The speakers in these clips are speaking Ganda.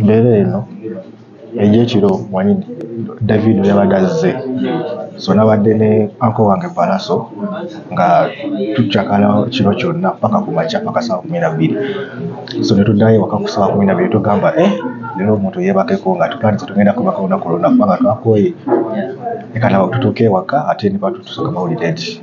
Embeera eno egy'ekiro omanyi David bwe yabadde azze, so nabadde ne uncle wange Pallaso nga tucakala kiro kyonna ppaka ku makya ppaka ssaawa kkumi na bbiri. So ne tuddayo ewaka ku ssaawa kkumi na bbiri ne tugamba eh leero omuntu yeebakeko nga tutandise tugenda kubaka olunaku lwonna kubanga twakooye, leka tutuuke ewaka ate ne batutuusa ku mawulire nti.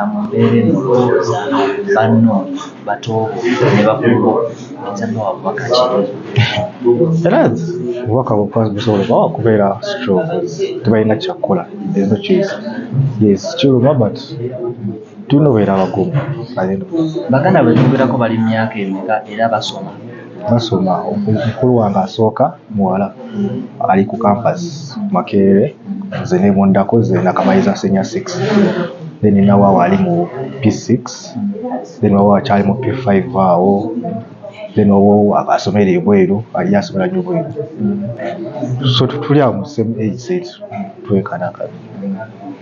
amubeere mu lowooza banno batoobo ne bakubo oyinza bawa bubaka ki? Era obubaka bwokwazi busobola oba wakubeera strong tebalina kyakukola there's no choice yes kiruma but tulina obeera abagumu at the end of the day. Baganda betwogerako bali mu myaka emeka era basoma? basoma omukulu wange asooka muwala ali ku campus makerere nze nebundako nze nakamaliza senior six then nawawa ali mu p6 then wawa akyali mu p5 awo then owo asomera ebweru ali asomera nyo bweru so tuli awo mu same age set twekanakana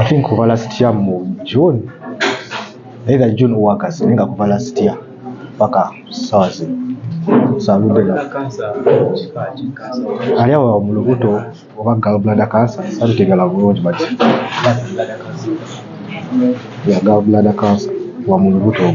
I think kuva last year mu June either June or August ninga kuva last year paka sawazi salude na ali awo mu lubuto oba gallbladder cancer salutegala bulungi but ya gallbladder cancer wa mu lubuto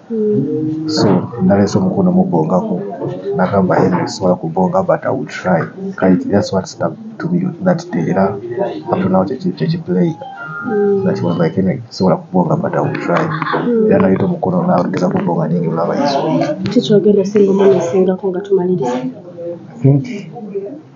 so naleese omukono mubongako nagamba Henry sisobola kubonga but I will try kale that's what stuck to me that day era up to now kyekiplay that was like Henry sisobola kubonga but I will try era naleeta omukono nageza kubonga ninge olaba yesu kikyogenda singa omwana asingako nga tumaliriza I think